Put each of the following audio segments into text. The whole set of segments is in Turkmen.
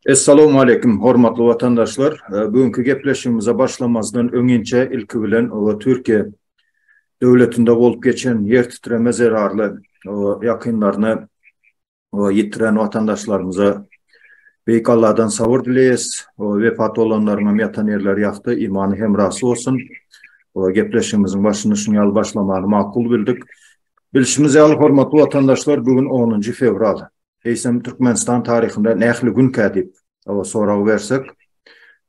Essalawmaleýkim hormatly watandaşlar. Bu günki gepleşigimize başlamazdan öňinçe ilki bilen Türkiýe döwletinde bolup geçen ýer titreme zerarly ýakynlaryna we ýitiren watandaşlarymyza Beýik Allahdan sabyr dileýäs. Wepat bolanlaryňam ýatan ýerleri ýagty, imany hemrasy bolsun. Gepleşigimiziň başyny şunuň ýaly başlamagy makul bildik. Bilşimiz ýaly, hormatly watandaşlar, bu gün onunjy fewral. Eýsem, Türkmenistan taryhynda nähili günkä diýip sorag bersek,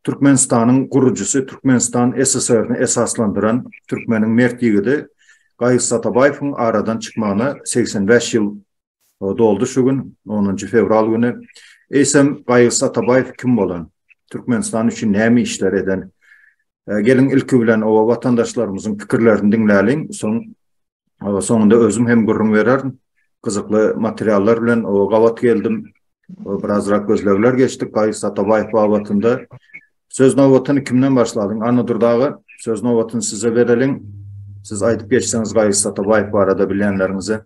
Türkmenistanyň gurujysy, Türkmenistan SSR-ni esaslandyran türkmeniň mert ýigidi Gaýys Atabaýewiň aradan çykmagyna segsen bäş ýyl O doldy şu gün, 10-njy fewral güni. Eýsem, Gaýgys Atabaýew kim bolan? Türkmenistan üçin näme işler eden? Geliň, ilki bilen oba watandaşlarymyzyň pikirlerini diňläliň, soň soňunda özüm hem gürrüň bererin. Gyzykly materiallar bilen oba gabat geldim. Birazrak gözlegler geçdik Gaýgys Atabaýew babatynda. Söz nobatyny kimden başlalyň? Anna Durdaga, söz nobatyny size bereliň. Siz aýdyp geçseňiz Gaýgys Atabaýew barada bilýänleriňize.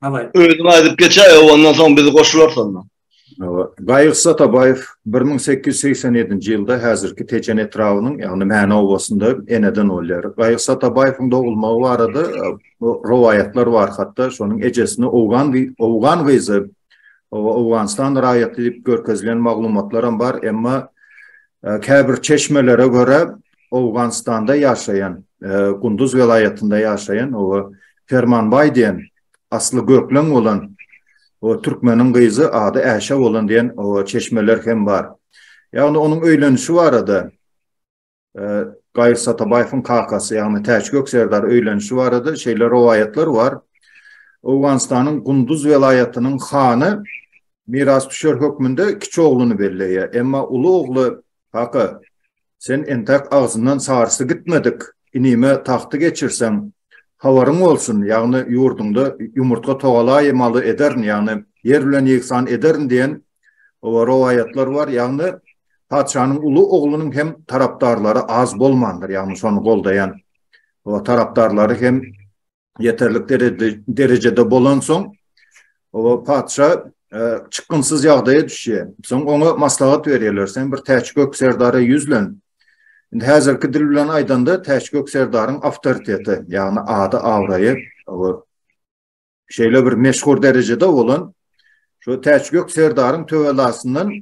Hawaý. Özüň aýdyp geçäý, ondan soň biz goşularys onda. Gaýyk Satabaýew 1887-nji ýylda häzirki Tejen etrabynyň, ýagny Mäne obasynda eneden bolýar. Gaýyk Satabaýewiň dogulmagy barada rowaýatlar bar, hatda şonuň ejesini owgan owgan gyzy, Owganystan raýaty diýip görkezilen maglumatlaram bar, emma käbir çeşmelere görä, Owganystanda ýaşaýan, Gunduz welaýatynda ýaşaýan o Permanbaý diýen asly gökleň bolan o türkmeniň gyzy ady Äşe bolan diýen o çeşmeler hem bar. Ýagny onuň öýlenişi barada Gaýyr Satabaýewiň kakasy, ýagny Täçgök serdar öýlenişi barada şeýle rowaýatlar bar. Owganystanyň Gunduz welaýatynyň hany mirasdüşer hökmünde kiçi ogluny belleýär. Emma uly ogly Haka Sen entäk agzyndan sarysy gitmedik inime tagty geçirseň, habaryň bolsun, ýagny ýurduňda ýumurtga togalaýy maly ederin, ýagny ýer bilen ýegsan ederin diýen rowaýatlar bar, ýagny patyşanyň uly oglunyň hem tarapdarlary az bolmandyr, ýagny şony goldaýan tarapdarlary hem ýeterlik derejede bolansoň, o patyşa e, çykgynsyz ýagdaýa düşýär. Soň oňa maslahat berýärler, sen bir Täçgök serdara ýüzlen. Indi häzirki dil bilen aýdanda Täçgök serdaryň awtoriteti, ýagny ady, abraýy şeýle bir meşhur derejede bolan şu Täçgök serdaryň töwelasyndan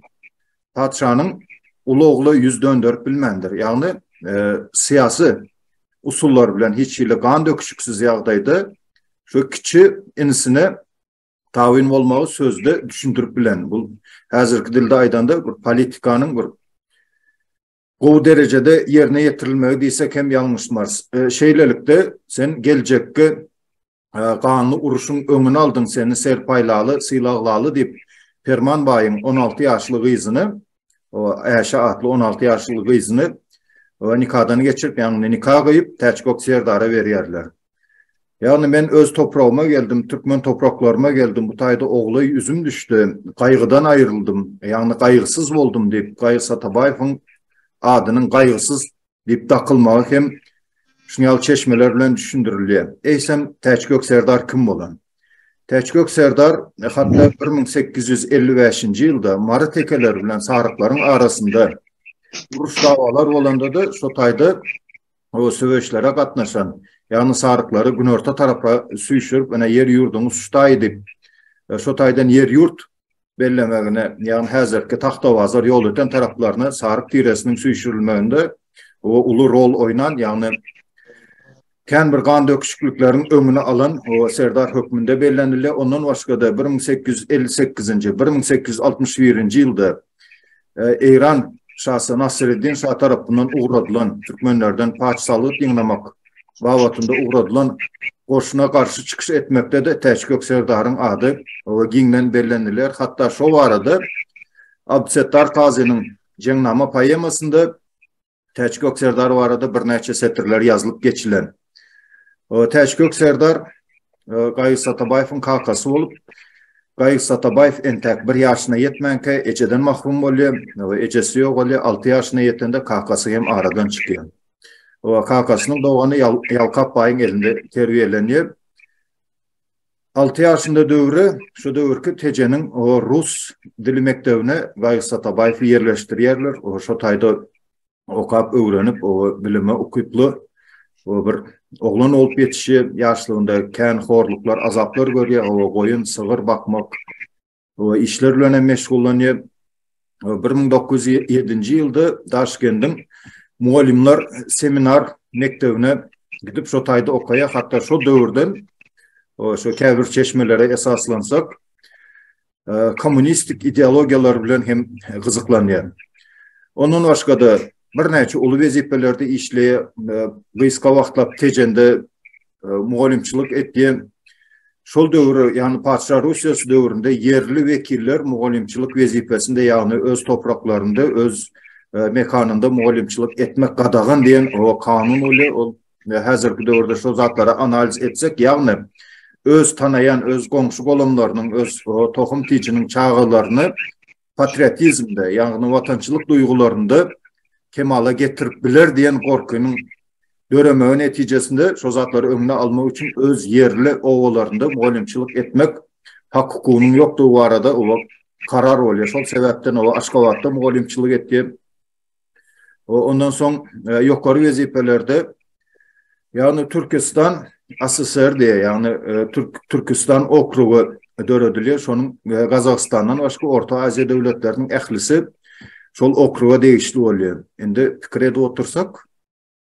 patyşanyň uly ogly ýüz dönderip bilmändir. Ýagny, e, syýasy usullar bilen hiç hili gan döküşiksiz ýagdaýda şu kiçi inisine tabyn bolmagy sözde düşündirip bilen. Bu häzirki dilde aýdanda bir politikanyň bir gowy derejede ýerine ýetirilmegi diýsek hem ýalňyşmarys. E, şeýlelikde sen geljekki e, ganly uruşyň öňüni aldyň, seni serpaýlaly, sylaglaly diýip Perman baýyň 16 ýaşly gyzyny, o Äşe atly 16 ýaşly gyzyny nikadan geçirip, ýagny nika gyýyp, Täçgok serdara berýärler. Ýagny men öz topragyma geldim, türkmen topraklaryma geldim, bu taýda oglaý üzüm düşdi, gaýgydan aýryldym, ýagny gaýgysyz boldum diýip, Gaýys Atabaýewiň adynyň Gaýgysyz diýip dakylmagy hem şunuň ýaly çeşmeler bilen düşündirilýär. Eýsem, Täçgök serdar kim bolan? Täçgök serdar hatda bir müň sekiz ýüz elli bäşinji ýylda Mary tekeleri bilen saryklaryň arasynda uruş-dawalar bolanda-da, şo taýda o söweşlere gatnaşan, ýagny saryklary günorta tarapa süýşürip, ine, ýer-ýurduňyz şu taý diýip, şo taýdan ýer-ýurt bellemegine, ýagny häzirki Tagtabazar, Ýolöten taraplaryna saryk tiresiniň süýşürilmeginde o uly rol oýnan, ýagny kän bir gan döküşiklikleriň öňüni alan o serdar hökmünde bellenilýär. Ondan başga-da bir müň sekiz ýüz elli sekizinji, bir müň sekiz ýüz altmyş birinji ýylda Eýran şasy Nasreddin şa tarapyndan ugradylan türkmenlerden paç salgyt ýygnamak babatynda ugradylan goşuna garşy çykyş etmekde-de Täçgök serdaryň ady giňden belleniler. Hatda şo barada Abdysetdar Kazynyň Jeňnama poemasynda Täç gök serdar barada birnäçe setirler ýazylyp geçilen. Täç gök serdar Gaýyk Satabaýewiň kakasy bolup, Gaýyk Satabaýew entäk bir ýaşyna ýetmänkä ejeden mahrum bolýar. Ejesi ýogaly, alty ýaşyna ýetende kakasy hem aradan çykýar. Kakasynyň dogany Ýalkap baýyň elinde terbiýelenýär. 6 ýaşynda döwri şu döwürki Tejeniň rus dili mekdebine Baýys Atabaýewi ýerleşdirýärler. Şo taýda okap, öwrenip, bilime ukyply bir oglan bolup ýetişýär. Ýaşlygynda kän horluklar, azaplar görýär. Goýun, sygyr bakmak, we işler bilen hem meşgullanýar. 1907-nji ýylda Daşkendiň mugallymlar seminar mekdebine gidip şo taýda okaýar. Hatda şo döwürden şo käbir çeşmelere esaslansak, kommunistik ideologiýalar bilen hem gyzyklanýar. Ondan başga-da birnäçe uly wezipelerde işleýär. Gysga wagtlap Tejende mugallymçylyk etýär. Şol döwür, ýagny Patyşa Russiýasy döwründe ýerli wekiller mugallymçylyk wezipesinde, ýagny öz topraklarynda, öz mekanynda mugallymçylyk etmek gadagan diýen o kanun bolýar. Ol häzirki döwürde şol zatlary analiz etsek, ýagny öz tanaýan, öz goňşy-golamlarynyň, öz tohum-tijiniň çagalaryny patriotizmde, ýagny watançylyk duýgularynda kemala getirip biler diýen gorkynyň döremegi netijesinde şo zatlary öňüni almak üçin öz ýerli obalarynda mugallymçylyk etmek hak-hukugynyň ýokdugy barada oba karar bolýar. Şol sebäpden oba Aşgabatda mugallymçylyk etýär. Ondan soň ýokary wezipelerde ýagny Türkistan ASSR diýýär, ýagny Türkistan okrugy döredilýär. Şonuň Gazagystandan başga Orta Aziýa döwletleriniň ählisi şol okruga degişli bolýar. Indi pikir edip otursak,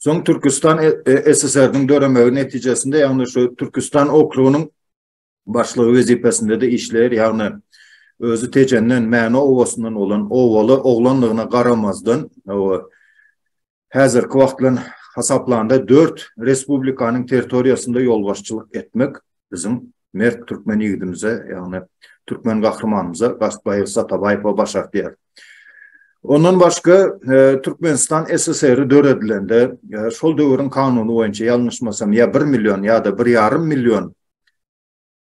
Soň Türkistan e, e, SSR-niň döremegi netijesinde, ýagny şu Türkistan okrugynyň başlygy wezipesinde de işleýär, ýagny özi Tejenden, Mäne obasyndan bolan owaly oglanlygyna garamazdan, häzirki wagt bilen hasaplanda 4 respublikanyň territoriýasynda ýolbaşçylyk etmek biziň mert türkmen ýigidimize, ýagny türkmen gahrymanymyza Gastbaýew Satabaýewe baş artýar. Ondan başga, Türkmenistan SSR-i döredilende, şol döwrüň kanuny boýunça, ýalňyşmasam, ýa bir million, ýa-da bir ýarym million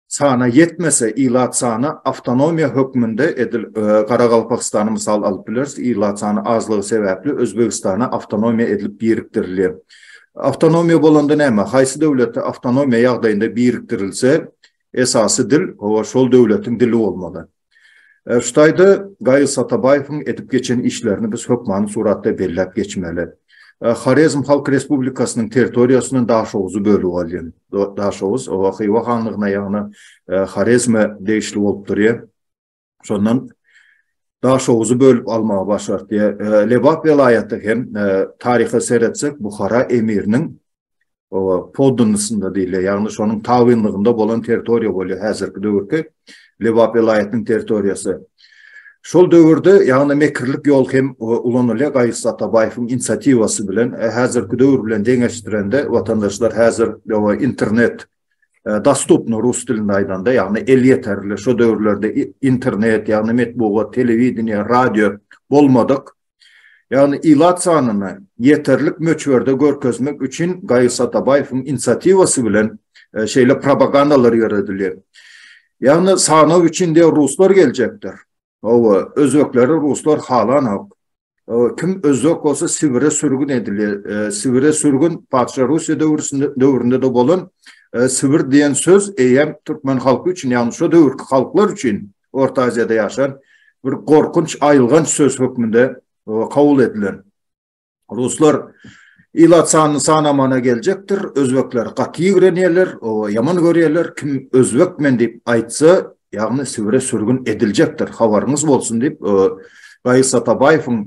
sana ýetmese, ilat sany awtonomiýa hökmünde edil Garagalpakystany mysal alyp bileris, ilat sany azlygy sebäpli Özbegistana awtonomiýa edilip birikdirilýär. Awtonomiýa bolanda näme? Haýsy döwletde awtonomiýa ýagdaýynda birikdirilse, esasy dil, hawa, şol döwletiň dili bolmaly. Şu taýda Gaýyz Satabaýewiň edip geçen işlerini biz hökmany suratda belläp geçmeli. Horezm Halk Respublikasynyň territoriýasyndan Daşoguzy bölüp alýan. Daşoguz, hawa, Hywa hanlygyna, ýagny Horezme degişli bolup durýar. Şondan Daşoguzy bölüp almagy başardy. E, Lebap welaýaty hem e, taryha seretsek Buhara emiriniň poddunysynda diýilýär. Ýagny şonuň tabynlygynda bolan territoriýa bolýar häzirki döwürki Lebap welaýatynyň territoriýasy. Şol döwürde ýagny mekirlik ýol hem ulanylýar Gaýyş Satabaýewiň inisiatiwasy bilen e, häzirki döwür bilen deňeşdirende watandaşlar häzir internet e, dostupno rus dilinde aýdanda, ýagny elýeterli şu döwürlerde internet, ýagny metbugat, telewideniýe, radio bolmadyk Ýagny ilat sanyny ýeterlik möçberde görkezmek üçin Gaýy Satabaýewiň inisiatiwasy bilen e, şeýle propagandalar ýöredilýär. Ýagny sanag üçin de ruslar geljekdir. Hawa, özbekleri ruslar halanok. Kim özbek bolsa Sibire sürgün edilýär. E, Sibire sürgün patyşa Russiýa döwründe döwründe de bolan e, Sibir diýen söz eýem türkmen halky üçin, ýagny şu döwürki halklar üçin Orta Aziýada ýaşan bir gorkunç aýylganç söz hökmünde kabul edilen. Ruslar ilat sanyny sanamana geljekdir, özbekler gaty ýigrenýärler, oba ýaman görýärler, kim özbek men diýip aýtsa, ýagny Sibire sürgün ediljekdir, habaryňyz bolsun diýip, Gaýyr Satabaýewiň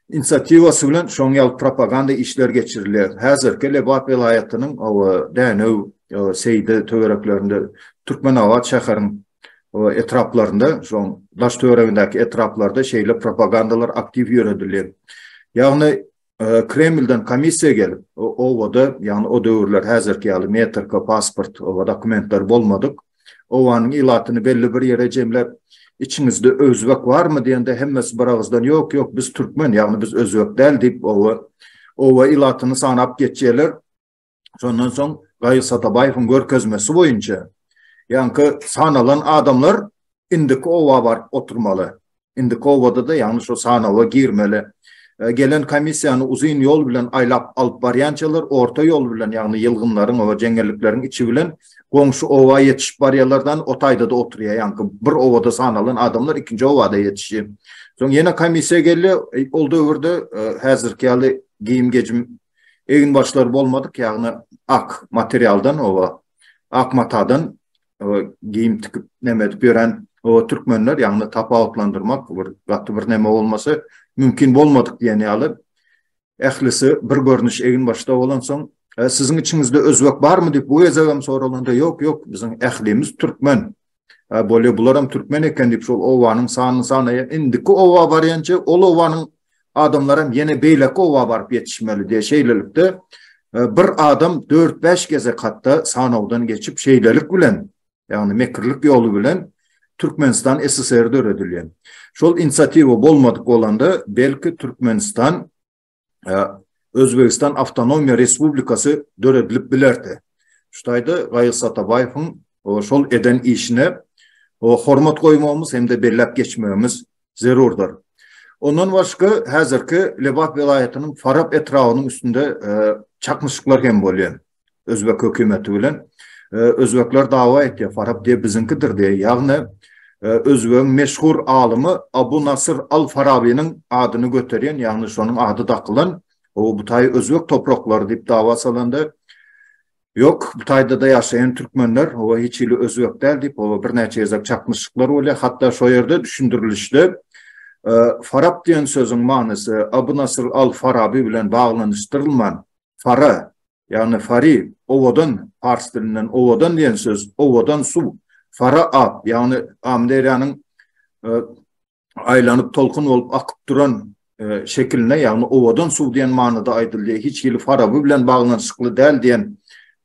inisiatiwasy bilen şoň ýaly propaganda işleri geçirilýär. Häzirki Lebap welaýatynyň Dänew, Seýde töwereklerinde Türkmenabat şäheriň o etraplarynda, şoň daş töweregindäki etraplarda şeýle propagandalar aktiw ýöredilýär. Ýagny e, Kremlden komissiýa gelip, obada, ýagny o döwürler häzirki ýaly metrika, pasport, oba dokumentler bolmadyk. Obanyň ilatyny belli bir ýere jemläp, içiňizde özbek barmy diýende hemmesi bir agyzdan ýok ýok biz türkmen ýagny biz özbek däl diýip owa owa ilatyny sanap geçýärler. Şondan soň Gaýyr Satabaýewiň görkezmesi boýunça ýaňky sanalan adamlar indiki oba baryp oturmaly. Indiki obada-da ýagny şu sanawa girmeli. E, gelen komissiýany uzyn ýol bilen aýlap alyp barýançalar orta ýol bilen, ýagny ýylgynlaryň we jeňňellikleriň içi bilen goňşy oba ýetişip barýarlardan o taýda-da oturýar. Ýaňky bir obada sanalan adamlar ikinji obada ýetişýär. Soň ýene komissiýa gelýär. E, ol döwürde e, häzirki ýaly giyim gecim Egin başlary bolmadyk, ýagny ak materialdan oba, ak matadan geýim tikip näme edip ýören o türkmenler, ýagny tapawutlandyrmak bir gaty bir näme bolmasy mümkin bolmadyk diýen ýaly. Ählisi bir görnüş egin başda bolansoň, siziň içiňizde özbek barmy diýip bu gezegem soralanda, ýok, ýok, biziň ählimiz türkmen. Hä, bolýa, bularam türkmen eken diýip, şol obanyň sanyny sanaýar. Indiki oba barýança, ol obanyň adamlaram ýene beýleki oba baryp ýetişmeli diýýär. Şeýlelikde, bir adam dört-bäş gezek hatda sanawdan geçip, şeýlelik bilen, ýagny mekirlik ýoly bilen Türkmenistan SSR döredilýär. Şol inisiatiwa bolmadyk bolanda, belki, Türkmenistan Özbegistan Awtonomiýa Respublikasy döredilip bilerdi. Şu taýda Gaýys Atabaýewiň şol eden işine hormat goýmagymyz hem-de belläp geçmegimiz zerurdyr. Ondan başga, häzirki Lebap welaýatynyň Farap etrabynyň üstünde çaknyşyklar hem bolýar. özbek hökümeti bilen özbekler dawa etýär farap diýip biziňkidir diýip ýagny özbegiň meşhur alymy Abu Nasr al Farabiniň adyny göterýän ýagny şonuň ady dakylan o bu taý özbek topraklary diýip dawa salanda Yok, bu taýda da ýaşaýan türkmenler, o hiç hili özbek däl diýip, o birnäçe gezek çaknyşyklar bolýar. Hatda şu ýerde düşündirilişde Farap diýen sözüň manysy Abu Nasr al-Farabi bilen baglanyşdyrylman, Fara, ýagny fari, owadan, pars dilinden owadan diýen söz, owadan suw. Fara ab, ýagny Amyderýanyň aýlanyp tolkun bolup akyp duran şekiline, ýagny owadan suw diýen manyda aýdylýar. Hiç hili Faraby bilen baglanyşykly däl diýen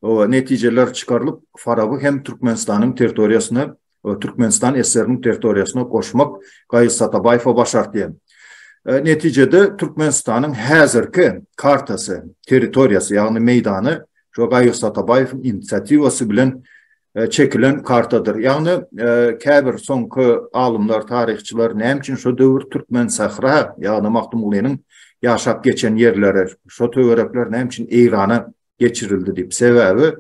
netijeler çykarylyp, Faraby hem Türkmenistanyň territoriýasyna Türkmenistan SSR-niň territoriýasyna goşmak Gaýyz Satabaýewe başartdy. Netijede Türkmenistanyň häzirki kartasy, territoriýasy, ýagny meýdany şo Gaýyz Satabaýewiň inisiatiwasy bilen çekilen kartadyr. Ýagny käbir soňky alymlar, taryhçylar näme üçin şo döwür Türkmensahra, ýagny Magtymgulynyň ýaşap geçen ýerleri, şo töwerekler näme üçin Eýrana geçirildi diýip. Sebäbi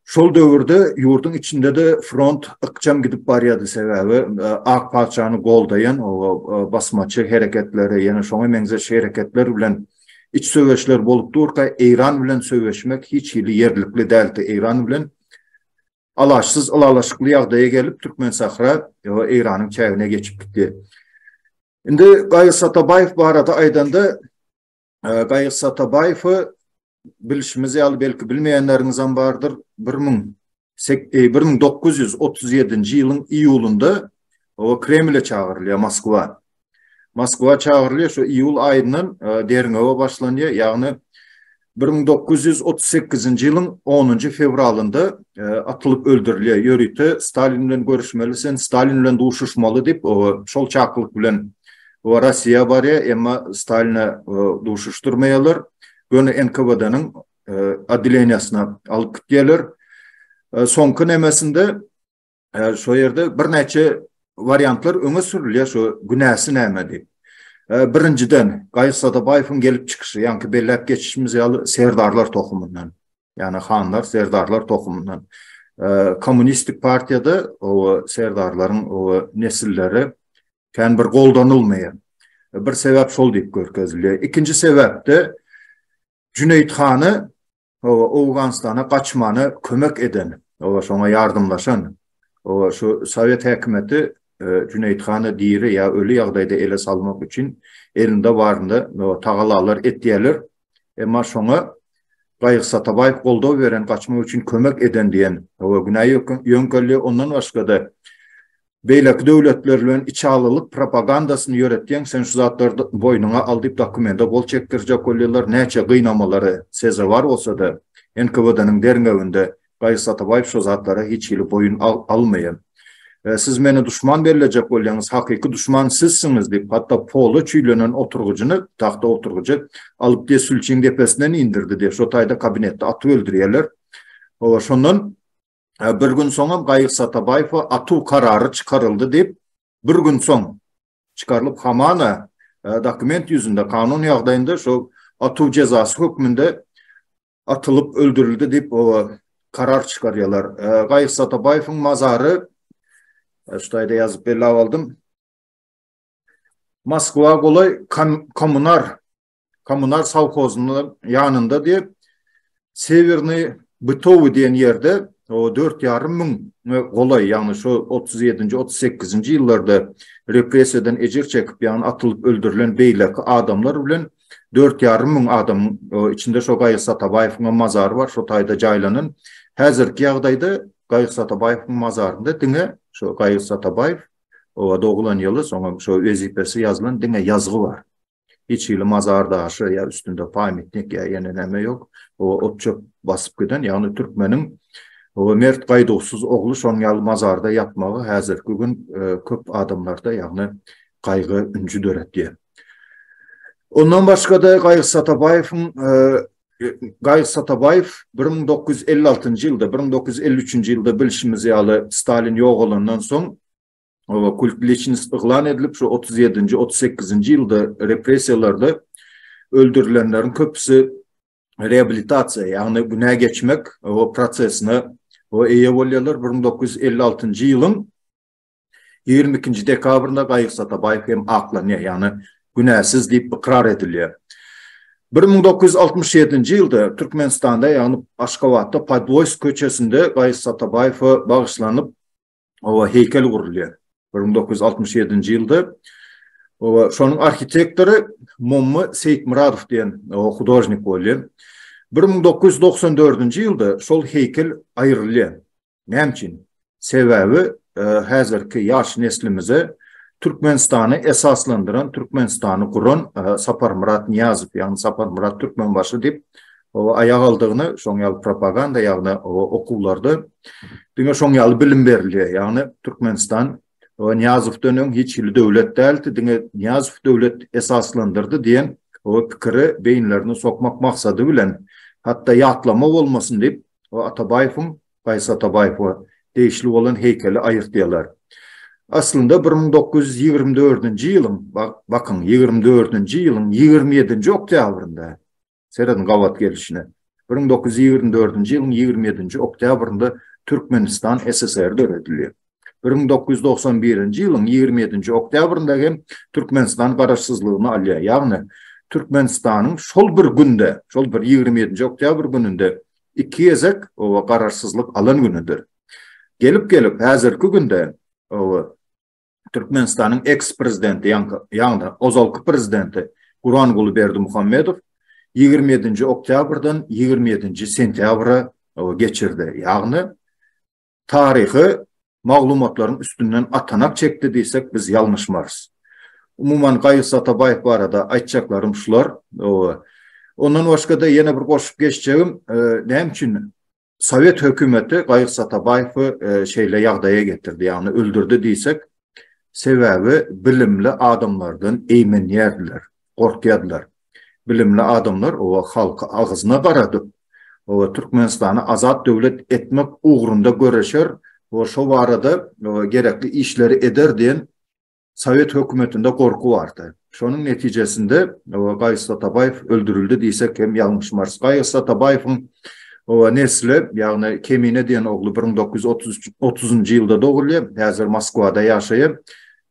şol döwürde ýurduň içinde-de front ykjam gidip barýardy. Sebäbi e, Ak paçany goldaýan o e, basmaçy hereketleri, ýene şoňa meňzeş hereketler bilen iç söweşler bolup durka, Eýran bilen söweşmek hiç hili ýerlikli däldi. Eýran bilen alaşsyz ylalaşykly ýagdaýa gelip Türkmen Sahra Eýranyň çägine geçip gitdi. Indi Gaýy Satabaýew barada aýdanda Gaýyk Satabaýewi bilşimiz ýaly belki bilmeýänleriňizem bardyr. 1937-nji e, ýylyň iýulynda o Kremle çagyrylýar Moskwa. Moskwa çagyrylýar şu iýul aýyndan e, derňewe başlanýar. Ýagny 1938-nji ýylyň 10-njy fewralynda e, atylyp öldürilýär. Ýörite Stalin bilen görüşmeli, sen Stalin bilen duşuşmaly diýip, o şol çakylyk bilen we Rossiýa barýar, emma Staline duşuşdyrmaýarlar. Göni NKWD-niň odeleniýasyna alyp gitýärler. Soňky nemesinde şo ýerde birnäçe wariantlar öňe sürülýär, şo günäsi näme diýip. Birinjiden, Gaýyş Sadabaýewiň gelip çykyşy, ýaňky belläp geçişimiz ýaly, serdarlar tohumyndan. Ýagny hanlar, serdarlar tohumyndan. Kommunistik partiýada o serdarlaryň o nesilleri Kän bir goldanylmaýar. Bir sebäp şol diýip görkezilýär. Ikinji sebäpde Jüneýit hany owa Owganystana gaçmana kömek eden, owa şoňa ýardamlaşan. Owa şu sowet häkimiýeti e, Jüneýit hany diri ýa öli ýagdaýda ele salmak üçin elinde baryny tagalalar etýärler. Emma şoňa Gaýyk Satabaýew goldaw beren gaçmak üçin kömek eden diýen owa günä ýöňkelýär. Ondan başga-da beýleki döwletler bilen içalylyk propagandasyny ýöretýäň sen şu zatlary boýnuňa al diýip dokumenta gol çekdirjek bolýarlar näçe gynamalara sezewar bolsada NKWD-nyň derňewinde Gaýys Atabaýew şo zatlara hiç hili boýun almaýar siz meni duşman bellejek bolýaňyz hakyky duşman sizsiňiz diýip hatda pola çüýlenen oturgyjyny tahta oturgyjy alyp diýe sülçiň depesinden indirdi diýe şo taýda kabinetde atyp öldürýärler owa şondan bir gün soňam Gaýyk Satabaýewa atuw karary çykaryldy diýip, bir gün soň çykarylyp hamana dokument ýüzünde, kanun ýagdaýynda şo atuw jezasy hökmünde atylyp öldürildi diýip, o karar çykarýarlar. Gaýyk Satabaýewiň mazary şuýda ýazyp bellap aldym. Moskwa golaý kommunar kommunal sowhozynyň ýanynda diýip, Sewerny Bytowy diýen ýerde o 4,5 müň golaý, ýagny şu 37-nji, 38-nji ýyllarda repressiýadan ejir çekip, ýagny atylyp öldürilen beýleki adamlar bilen 4,5 müň adamyň, içinde şo Gaýyk Satabaýewiň hem mazary bar, şo taýda jaýlanan. Häzirki ýagdaýda Gaýyk Satabaýewiň mazarynda diňe şo Gaýyk Satabaýew, oba doglan ýyly, soňam şo wezipesi ýazylan diňe ýazgy bar. Hiç hili mazar daşy ýa üstünde paýmitnik ýa ýene näme ýok. O ot-çöp basyp giden, ýagny türkmeniň o mert gaýduwsyz ogly şoň ýaly mazarda ýatmagy häzirki gün e, köp adamlarda ýagny gaýgy ünji döretýär. Ondan başga-da Gaýgy Satabaýewiň e, Gaýgy Satabaýew 1956-njy ýylda, 1953-nji ýylda bilşimiz ýaly Stalin ýogalandan soň oba kult liçnist yglan edilip, şu 37-nji, 38-nji ýylda repressiýalarda öldürilenleriň köpüsi reabilitasiýa, ýagny günä geçmek o prosesine o eýe bolýarlar. 1956-njy ýylyň 22-nji dekabrynda Gaýyk Satabaýew hem aklanýar, ýagny günäsiz diýip ykrar edilýär. 1967-nji ýylda Türkmenistanda, ýagny Aşgabatda Podwoýsk köçesinde Gaýyk Satabaýewe bagyşlanyp oba heýkel gurulýar. 1967-nji ýylda oba şonuň arhitektory Momma Seýitmyradow diýen hudožnik bolýar. 1994-nji ýylda şol heýkel aýrylýar. Näme üçin? Sebäbi e, häzirki ýaş neslimize Türkmenistany esaslandyran, Türkmenistany guran e, Saparmyrat Niýazow, ýagny Saparmyrat Türkmenbaşy diýip Oba aýak aldygyna şoň ýaly propaganda ýagny oba okuwlarda diňe şoň ýaly bilim berilýär ýagny Türkmenistan oba Nyýazowdan öň hiç hili döwlet däldi diňe Nyýazow döwlet esaslandyrdy diýen oba pikiri beýinlerine sokmak maksady bilen hatda ýatlama bolmasyn diýip oba Atabaýewiň Gaýsy Atabaýewe degişli bolan heýkeli aýyrtýalar aslynda bir müň dokuz ýüz ýigrimi dördünji ýylyň bakyň ýigrimi dördünji ýylyň ýigrimi ýedinji oktýabrynda Serediň gabat gelişine. Bir müň dokuz ýüz ýigrimi dördünji ýylyň ýigrimi ýedinji oktýabrynda Türkmenistan SSR döredilýär. Bir müň dokuz ýüz togsan birinji ýylyň ýigrimi ýedinji oktýabrynda hem Türkmenistan garaşsyzlygyny alýar. Ýagny Türkmenistanyň şol bir günde, şol bir ýigrimi ýedinji oktýabr gününde iki gezek oba garaşsyzlyk alan günüdir. Gelip-gelip häzirki günde oba Türkmenistanyň eks-prezidenti, ýagny ozalky prezidenti Guranguly Berdimuhamedow ýigrimi ýedinji oktýabrdan ýigrimi ýedinji sentýabra geçirdi. Ýagny taryhy maglumatlaryň üstünden atanak çekdi diýsek, biz ýalňyşmarys. Umuman Gaýys Atabaýew barada aýtjaklarym şular. Ondan başga-da ýene bir goşup geçjegim, näme üçin Sowet hökümeti Gaýyk Satabaýewi e, şeýle ýagdaýa getirdi, ýagny öldürdi diýsek, sebäbi bilimli adamlardan eýmenýärdiler, gorkýardylar. Bilimli adamlar o halky agzyna garadyp, o Türkmenistany azat döwlet etmek ugrunda göreşer we şo barada gerekli işleri eder diýen Sowet hökümetinde gorky bardy. Şonuň netijesinde Gaýys Atabaýew öldürildi diýsek hem ýalňyşmarys. Gaýys Atabaýewiň nesli, ýagny Kemine diýen ogly bir müň dokuz ýüz otuz üç, otuzynjy ýylda dogulýar, häzir Moskwada ýaşaýar.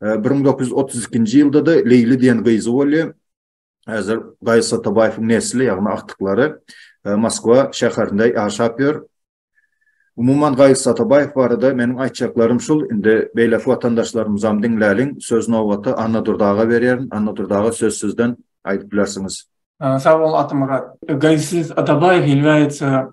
Bir müň dokuz ýüz otuz ikinji ýylda-da Leýli diýen gyzy bolýar. Häzir Gaýys Atabaýewiň nesli, ýagny agtyklary e, Moskwa şäherinde ýaşap ýör. Umuman Gaýys Atabaýew barada meniň aýtjaklarym şul. Indi beýleki watandaşlarymyzam diňläliň. Söz nobaty Anna Durdaga berýärin. Anna Durdaga söz sizden aýdyp bilersiňiz. Sag bol Atamyrat. Gaýys Atabaýew ýylgaýyça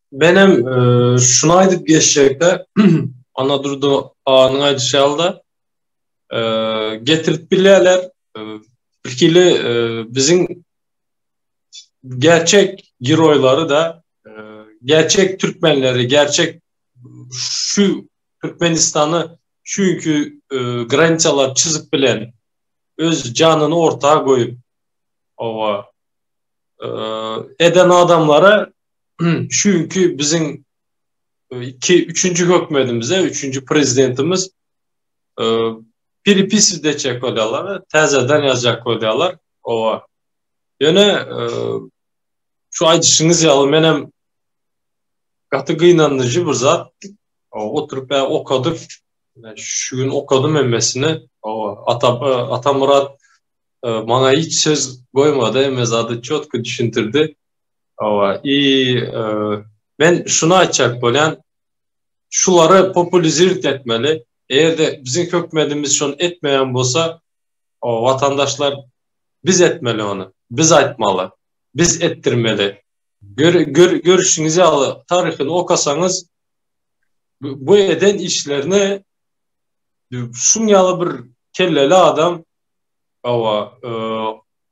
Menem e, şunu aýdyp geçjekde, ana durdy anyň aýdyşy ýaly e, getirip bilýärler. E, bir kili e, biziň gerçek giroýlary da e, gerçek türkmenleri, gerçek şu Türkmenistany şu günki e, graniçalar çizip bilen öz janyny orta goýup owa e, eden adamlara çünki biziň e, iki üçünji hökmedimize üçünji prezidentimiz e, perepis de çek bolýarlar täzeden ýazjak bolýarlar owa ýöne e, şu aýdyşyňyz ýaly men hem gaty gynandyjy bir zat oturyp okadyk şu gün okadym emmesini owa ata atamurat maňa hiç söz goýmady emme zady çotky düşündirdi Hawa, i men şuny aýtjak bolýan, şulary populizirt etmeli. Eger-de biziň hökümedimiz şony etmeýän bolsa, o watandaşlar biz etmeli ony. Biz aýtmaly. Biz etdirmeli. Görüşiňiz ýaly taryhyny okasaňyz bu eden işlerini şuň ýaly bir kelleli adam hawa,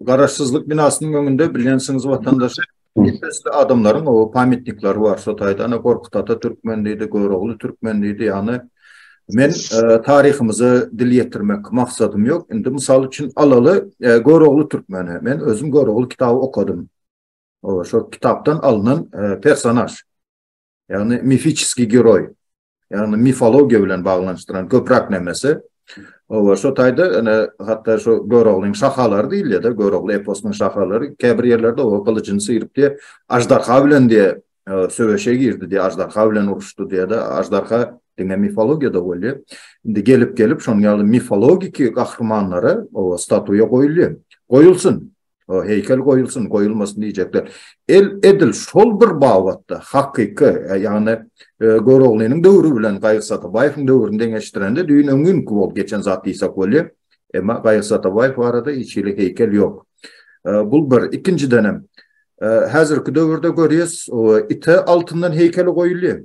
Garaşsyzlyk binasynyň öňünde bilýänsiňiz watandaş Nefesli adamlaryň o pametnikleri bar. Şo taýda ana Gorkut ata türkmen diýdi, Görogly türkmen diýdi. Ýagny men e, taryhymyza dil ýetirmek maksadym ýok. Indi mysal üçin alaly e, Görogly türkmeni. Men özüm Görogly kitaby okadym. O şo kitapdan alnan e, personaj. Ýagny mifiçiski geroý. Ýagny mifologiýa bilen baglanyşdyran köpräk nemesi. Owa, şo taýda ene hatda şo Göroglyň şahalary diýilýär-de, Görogly eposynyň şahalary käbir ýerlerde owa gylyjyny syryp diýe, aždarha bilen diýe söweşe girdi diýe, aždarha bilen uruşdy diýe-de, aždarha diňe mifologiýada bolýar. Indi gelip-gelip şonuň ýaly mifologiki gahrymanlara owa statuýa goýulýar. Goýulsyn. O heýkel goýulsyn, goýulmasyn diýjekler. El edil şol bir babatda hakyky, e, ýagny e, Göroglynyň döwri bilen Gaýyk Satabaýewiň döwrüni deňeşdirende düýn öňňinki bol geçen zat diýsek bolýar. Emma Gaýyk Satabaýew barada hiç hili heýkel ýok. E, bul bir. Ikinjiden hem häzirki döwürde görýäs, ite altyndan heýkeli goýulýar.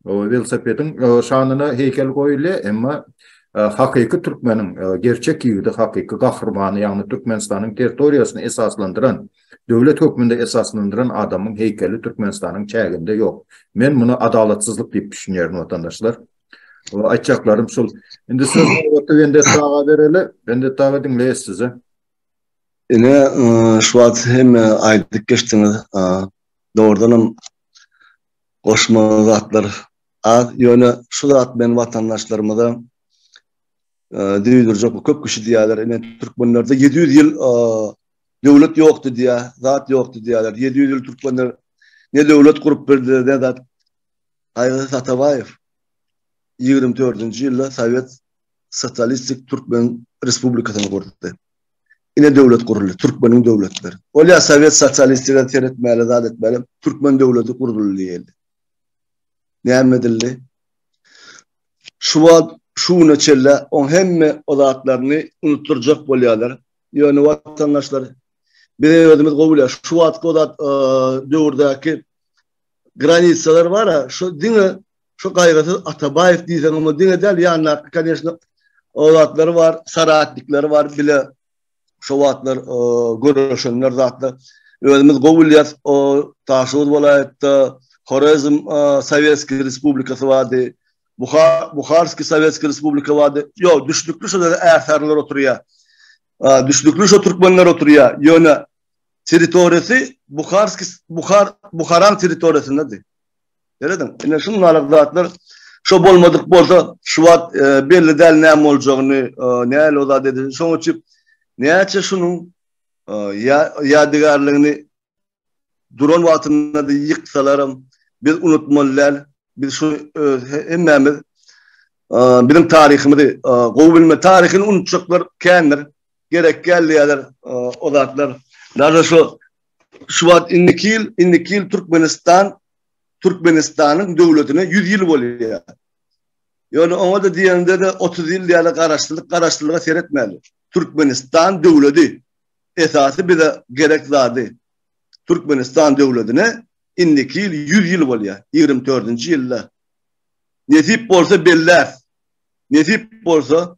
Welosipediň şanyna heýkel goýulýa, emma hakyky türkmeniň, gerçek ýigidi, hakyky gahrymany, ýagny Türkmenistanyň territoriýasyny esaslandyran, döwlet hökmünde esaslandyran adamyň heýkeli Türkmenistanyň çäginde ýok. Men muny adalatsyzlyk diýip düşünýärin, watandaşlar. Aýtjaklarym şul. Indi söz nobaty Wendetti aga bereli. Wendetti aga diňleýäs sizi. Ine, şu wagt hemme aýdyp geçdiňiz. Dogrudanam Goşmaly zatlar az, ýöne şu zat bilen watandaşlarymyza düwdürjek bu köp kişi diýýärler, ine türkmenlerde ýedi ýüz ýyl döwlet ýokdy diýýär, zat ýokdy diýýärler. Ýedi ýüz ýyl türkmenler ne döwlet gurup bildiler, ne zat. Gaýgysyz Atabaýew ýigrimi dördünji ýylda sowet sosialistik türkmen respublikasyny gurdy. ine döwlet guruldy, türkmeniň döwletleri. Ol ýa sowet sosialistigem seretmäli, zat etmäli, türkmen döwleti guruldy diýildi. Näme edildi? Şu wagt, şu güne çenli oň hemme o zatlaryny unutdyrjak bolýarlar. Ýöne watandaşlar, biz özümiz gowy bilýäris. Şu wagtky o zat döwürdäki granitsalar bar-a, şu diňe Şu gaýgysyz Atabaýew diýseň oňa diňe däl ýandaky koneşno o zatlary bar, saratnikleri bar bile şo wagtlar görüşenler zatlar. Özümiz gowy bilýäs o Daşoguz welaýatda Horezm Sowetskiý Respublikasy bardy. Buhar Buharskiý Sowetskiý Respublika bardy. Ýok, düşnükli şo ýerde ärsarylar oturýar. Düşnükli şo türkmenler oturýar. Ýöne territoriýasy Buharskiý Buhar Buharaň territoriýasynda diý. Ýöredin. Ine şum nalyk zatlar şo bolmadyk bolsa şu wagt e, belli däl näme boljagyny, e, näle o zat edildi. Şoň üçin näçe şunuň e, ýadygärligini duran wagtynda da ýyksalaram biz unutmaly däl. Biz şu e, hemmämiz e, biziň taryhymyzy e, gowy bilme taryhyny unutjaklar kändir. Gerek geldi ýalar e, o zatlar. Daşa şu şu wagt indiki ýyl, indiki ýyl Türkmenistan Türkmenistanyň döwletine 100 ýyl bolýar. Ýöne oňa-da diýende-de 30 ýyl diýýärler, garaşsyzlyk, garaşsyzlyga seretmäli. Türkmenistan döwledi esasy bize gerek zady. Türkmenistan döwledine indiki ýyl 100 ýyl bolýar, ýigrimi dördünji ýylda. Nesip bolsa belläs. Nesip bolsa.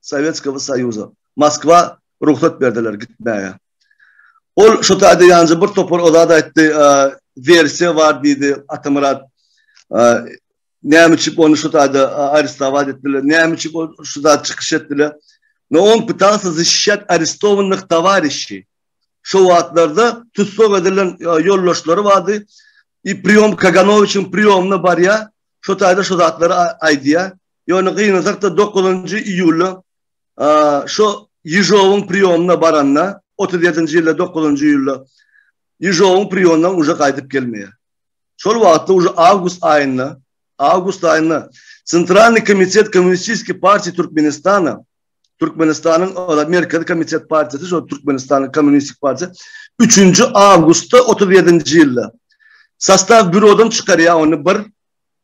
Sowetskogo Soýuza, Moskwa rugsat berdiler gitmäge. Ol şo taýda ýanjy bir topar o zat aýtdy, wersiýa bar diýdi Atamyrat. Näme üçin ony şo taýda arestowat etdiler, näme üçin ol şu zat çykyş etdiler? No on pytasa zişişýat arestowanyh towarişi. Şo wagtlarda tussag edilen ýoldaşlary bardy. I priýom Kaganowiçiň priýomyna barýar, şo taýda şo zatlary aýdýar. Ýöne gynasak-da dokuzynjy iýulda şo Ýežowyň priýomyna baranda, otuz ýedinji ýylda dokuzynjy iýulda Ýežowyň priýondan uje gaýdyp gelmeýär. Şol wagtda uje awgust aýynda, awgust aýynda Centralnyý komitet Kommunistiskiý partiýa Türkmenistana, Türkmenistanyň Merkezi komitet partiýasy şo Türkmenistanyň Kommunistik partiýa üçünji awgustda otuz ýedinji ýylda sastaw býurodan çykarýar ony bir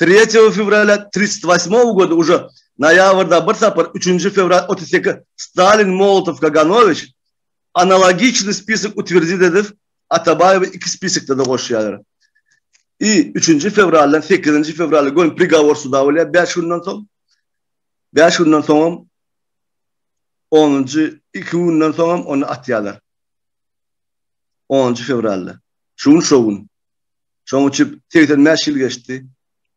Tretýego fewralýa tritsýt waśmogo goda uje noýabrda bir sapar üçünji fewral otuz seki Stalin Molotow Kaganowiç analogiçnyý spisok utwerdit edip Atabaýewi iki spiskde-de goşýarlar. I üçünji fewraldan sekizinji fewrala göni prigawor suda bolýar bäş günden soň. Bäş günden soňam onunjy iki günden soňam ony atýarlar. Onunjy fewralda. Şu gün şo gün. Şoň üçin segsen bäş ýyl geçdi.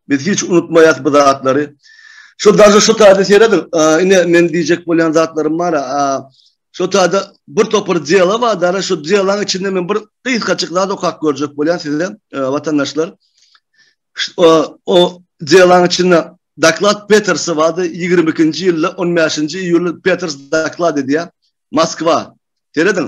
Biz hiç unutmaýas bu zatlary. Şu daža şu taýda serediň. Ine men diýjek bolýan zatlarym bar. Şu taýda bir topar dela bar. Dara şu delaň içinde men bir gysgaçyk zat okap görjek bolýan size watandaşlar. O delaň içinde doklad Petersi bardy. 22-nji ýylda 15-nji iýulda Peters doklad edýär. Moskwa. Serediň.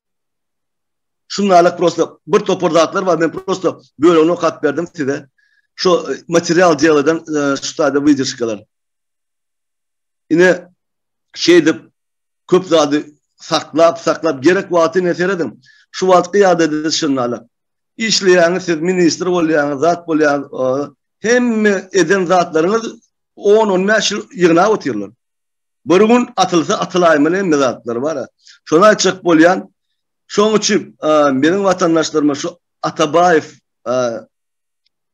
Şunalak prosta bir topar zatlar bar, men prosta bölügini okap berdim size. Şu e, material diýerden e, şu taýda wideoşkalar. Ine şeýdip köp zady saklap, saklap gerek wagty ine seredin. Şu wagtky ýagdaýda şunalak. Işleýäňiz siz ministr bolýaňyz, zat bolýaňyz. E, hemme eden zatlaryňyz 10-15 ýyl ýygnap otyrlar. Bir gün atylsa atylaýma näme zatlar bara. Şony aýtjak bolýan. Şoň üçin meniň watandaşlaryma şu Atabaýew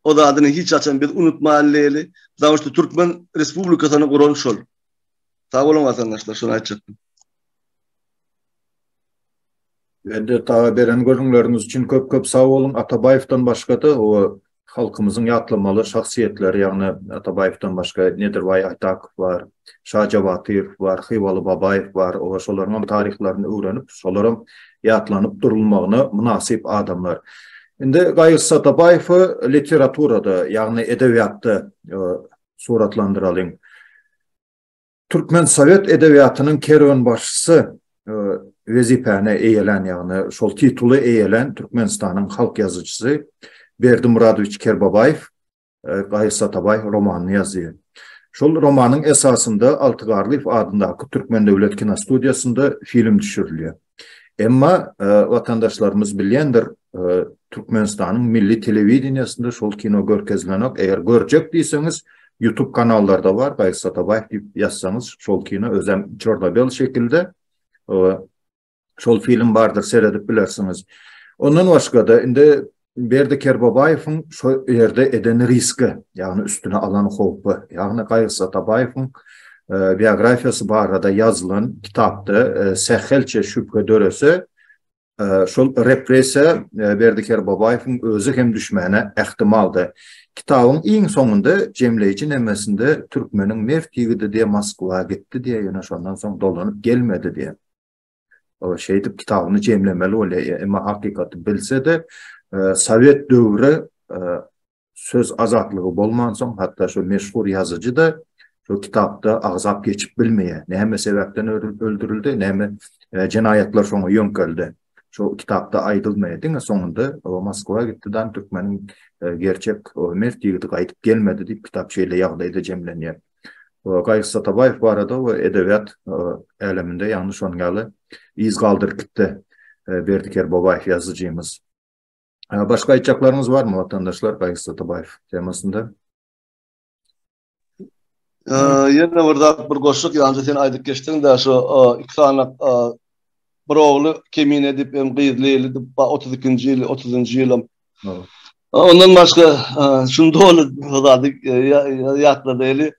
o zadyny hiç haçan biz unutmaýlyly. Zawuşda Türkmen Respublikasyny guran şol. Sag boluň watandaşlar şony aýtjakdym. Mehdet aga beren gürrüňleriňiz üçin köp köp sag boluň. Atabaýewden başga-da o halkymyzyň ýatlamaly şahsyýetleri, ýagny Atabaýewden başga Nedirbaý Aýtakow bar, Şaja Batyýew bar, Hywaly Babaýew bar. Oba şolaryň hem taryhlaryny öwrenip, şolar hem ýatlanyp durulmagyna mynasyp adamlar. Indi Gaýgysyz Atabaýewi literaturada, ýagny edebiýatda suratlandyralyň. Türkmen sowet edebiýatynyň kerwenbaşysy wezipäni eýelän, ýagny şol tituly eýelän Türkmenistanyň halk ýazyjysy Berdi Muradowiç Kerbabaýew Gaýyş Satabaý romanyny ýazýar. Şol romanyň esasynda Alty Garlyýew adyndaky Türkmen döwlet kinostudiýasynda film düşürilýär. Emma watandaşlarymyz bilýändir, Türkmenistanyň milli telewideniýesinde şol kino görkezilenok, eger görjek diýseňiz, YouTube kanallarda bar, Gaýyş Satabaýew diýip ýazsaňyz, şol kino özem çorno-bel şekilde, şol film bardyr, seredip bilersiňiz. Ondan başga-da, indi Berdi Kerbobaýewiň şo ýerde eden riski, ýagny üstüne alan howpy, ýagny Gaýgy Satabaýewiň biografiýasy barada ýazylan kitapda sähelçe şübhe dörese, şol repressiýa Berdi Kerbobaýewiň özi hem düşmäne ähtimaldy. Kitabyň iň soňunda jemleýji nemesinde türkmeniň mert ýigidi diýe Moskwa gitdi diýe, ýöne şondan soň dolanyp gelmedi diýe. O şeýdip kitabyny jemlemeli bolýar. Emma hakykaty bilse-de, e, sowet döwri e, söz azatlygy bolmansoň, hatda şu meşhur ýazyjy-da şu kitapda agzap geçip bilmeýär. Näme sebäpden öldürildi, näme e, jenaýatlar şoňa ýöňkeldi. Şu kitapda aýdylmaýar. Diňe soňunda o Moskwa gitdi-dan türkmeniň e, gerçek o mert ýigidi gaýdyp gelmedi diýip kitap şeýle ýagdaýda jemlenýär. we Gaýgy Atabaýew barada we edebiýat äleminde ýagny şonuň ýaly yz galdyryp gitdi Berdi Kerbobaýew ýazyjymyz. Başga aýtjaklaryňyz barmy watandaşlar Gaýgy Atabaýew temasynda? Ýene bir zat bir goşuk ýaňja sen aýdyp geçdiň-de şu iki sany bir ogly kemine edip hem gyz Leýli edip 32-nji ýyl 30-njy ýyl Ondan başga şunu doly zady ýatlady eli.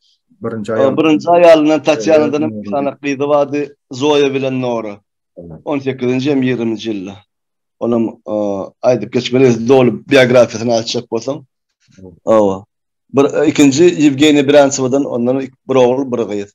Birinji aýal. Birinji aýalyna Tatýanadan bir sany gyzy bardy, Zoýa bilen Nora. 18-nji hem 20-nji ýylda. Olam aýdyp geçmeli, doly biografiýasyny açjak bolsaň. Owa. Bir ikinji Ýewgeniýa Biransowadan ondan bir ogul, bir gyz.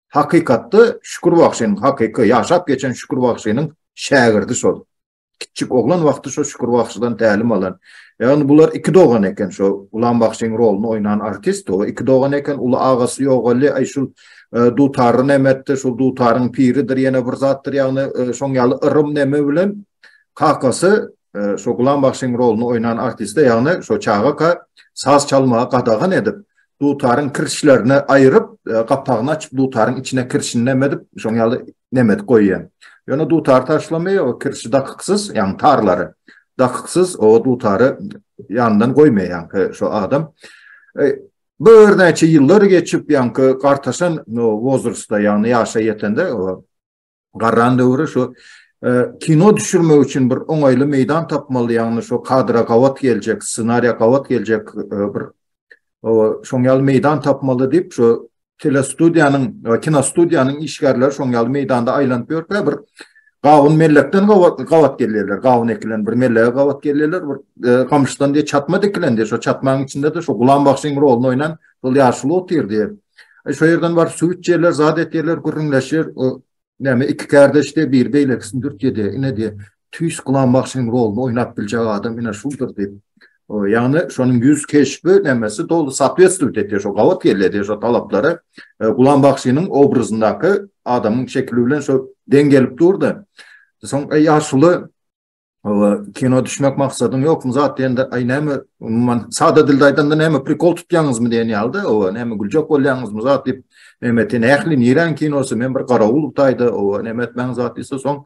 Hakykatda Şükür bagşynyň hakyky ýaşap geçen Şükür bagşynyň şägirdi şol. Kiçjik oglan wagty şo Şükür bagşydan tälim alan. Ýagny bular iki dogan eken şo Gulam bagşyň rolyny oýnan artist o iki dogan eken uly agasy ýogaldy aý şul dutary nemetdi şul dutaryň piridir ýene bir zatdyr ýagny şoň ýaly yrym neme bilen kakasy şo Gulam bagşyň rolyny oýnan artiste ýagny şo çagaka saz çalmagy gadagan edip dutaryň kirişlerini aýryp, e, gapagyny açyp, dutaryň içine kirişini näme edip, şoň ýaly näme edip goýýan. Ýöne dutary taşlamy, o kirişi dakyksyz, ýagny tarlary dakyksyz, o dutary ýandan goýmaýan şu adam. E, bu örnäçe ýyllar geçip, ýanky gartaşan wozrustda, ýagny ýaşa ýetende, o Garran döwri şu kino düşürmek üçin bir oňaýly meýdan tapmaly, ýagny şu kadra gabat geljek, ssenariýa gabat geljek bir şoň ýaly meýdan tapmaly diýip, şu telestudiýanyň, kinostudiýanyň işgärleri şoň ýaly meýdanda aýlanyp ýörkä bir gawun mellekden gabat gabat gelýärler. Gawun ekilen bir mellege gabat gelýärler. Bir gamyşdan diýip çatma dikilendi. Şu çatmaň içinde-de şu Gulam bagşyň roluny oýnan şol ýaşuly otyrdy. E, şo ýerden bar süwüt ýerler, zat et ýerler gürrüňleşýär. O näme iki kardeşde bir beýlekisini dürtýedi. Ine diýe tüýs Gulam bagşynyň roluny oýnap biljek adam ine şuldur diýip. Ýagny şonuň ýüz keşbi nämesi doly sootwestwiýet etýär şo gabat gelýär şo talaplara. E, Gulam bagşynyň obrazyndaky adamyň şekili bilen şo deň gelip durdy. Soň e, ýaşuly Hawa, kino düşmek maksadyň ýokmy zat diýende, aý näme, umuman, sada dilde aýdanda näme prikol tutýaňyzmy diýen ýalyda, oba, näme güljek bolýaňyzmy zat diýip, Mehmeti nähli niräň kinosy, men bir garawul taýda, oba, näme etmäň zat diýse, soň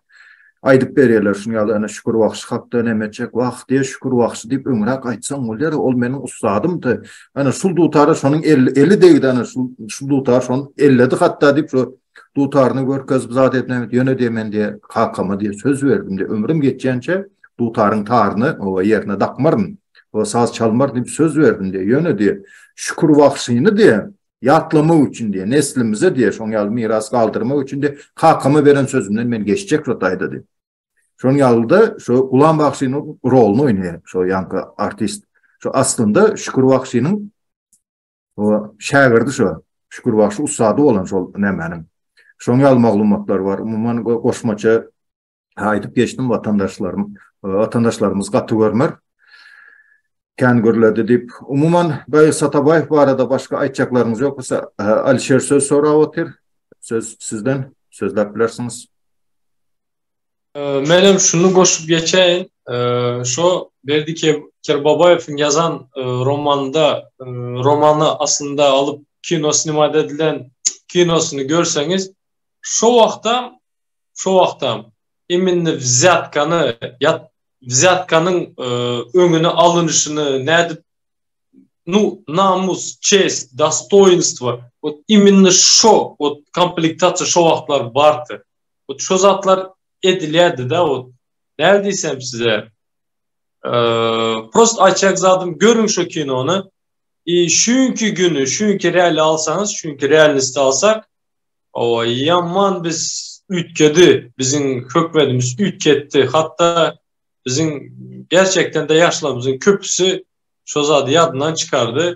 aýdyp berýärler, şuny ýaly ene Şükür bagşy hakda näme etjek, wah, diýe Şükür bagşy diýip öňräk aýtsaň bolýar, ol meniň ussadymdy. Ana şul dutara şonuň eli degdi, ana şul dutar şony elledi hatda diýip, şo Dutaryny görkezip zat etmem, ýöne diýe men diýe kakama diýe söz berdim diýe ömrüm geçýänçe dutaryň taryny owa ýerine dakmaryn. Owa saz çalmaryn diýip söz berdim diýe. Ýöne diýe Şükür wagşyny diýe ýatlamak üçin diýe neslimize diýe şoň ýaly miras galdyrmak üçin diýe kakama beren sözümden men geçjek şu taýda diýip. Şoň ýalyda şu Gulam wagşynyň roluny oýnaýar şu ýanky artist. Şu aslynda Şükür wagşynyň O şägirdi şo Şükür bagşy ussady bolan şol nämäniň. Şoň ýaly maglumatlar bar. Umuman goşmaça aýdyp geçdim watandaşlarym. Watandaşlarymyz gaty görmer. Kän gürledi diýip. Umuman Baýy Satabaýew barada başga aýtjaklarymyz ýok bolsa Alişer söz sorap otyr. Söz sizden sözläp bilersiňiz. Men hem şunu goşup geçeýin. Şo Berdi Kerbabaýewiň ýazan e, romanda, e, romany aslynda alyp kino snimat edilen kinosyny görseňiz, şo wagtda, şo wagtda iminni wzýatkany, ýat wzýatkanyň e, öňüni alynşyny nädip nu namus, çest, dostoýinstwo, ot iminni şo, ot komplektasiýa şo wagtlar bardy. Hut şo zatlar edilýärdi-de, hut näme diýsem size, prost aýtjak zadym görüň şo kinony. I şüňki güni, şüňki reali alsaňyz, şüňki realnisti alsak, owa ýaman biz üýtgedi, biziň hökmedimiz üýtgetdi. Hatda biziň gerçekden-de ýaşlarymyzyň köpüsi şo zady ýadyndan çykardy.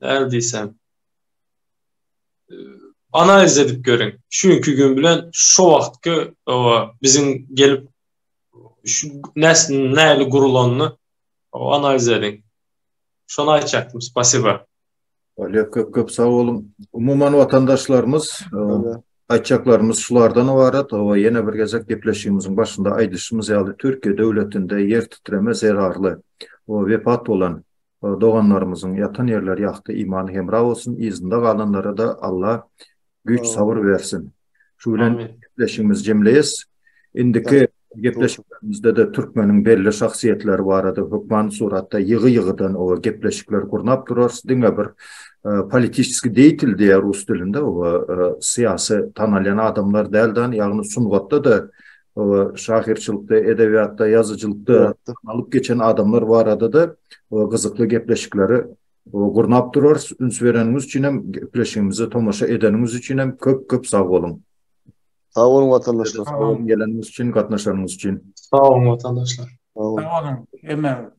näme diýsem, analiz edip görüň. Şu günki gün bilen şu wagtky owa biziň gelip şu näs näli gurulanyny analiz ediň. Şony aýtjakdym. Spasiba. Olýa köp köp sag boluň. Umuman watandaşlarymyz aýtjaklarymyz şulardan ybarat. Owa ýene bir gezek gepleşigimiziň başynda aýdyşymyz ýaly Türkiýe döwletinde ýer titreme zerarly we wepat bolan Doganlarymyzyň ýatan ýerleri ýagty imany hemra bolsun yzynda galanlarada Alla güýç sabyr bersin. Şu bilen gepleşigimizi jemleýes. Indiki gepleşiklerimizde-de türkmeniň belli şahsyýetleri barada hökman suratda ýygy ýygydan oba gepleşikler gurnap durarys. Diňe bir politiçeski deýtil diýýär rus dilinde oba syýasy tanalýan adamlar däl dan ýagny sungatda-da oba şahyrçylykda, edebiýatda, ýazyjylykda alyp geçen adamlar barada-da oba gyzykly gepleşikleri oba gurnap durarys. Üns bereniňiz üçin hem, gepleşigimize tomaşa edeniňiz üçin hem köp-köp sag boluň. Sag boluň watandaşlar. Sag boluň geleniňiz üçin, gatnaşanyňyz üçin. Sag boluň watandaşlar. Sag boluň hemmäňiz.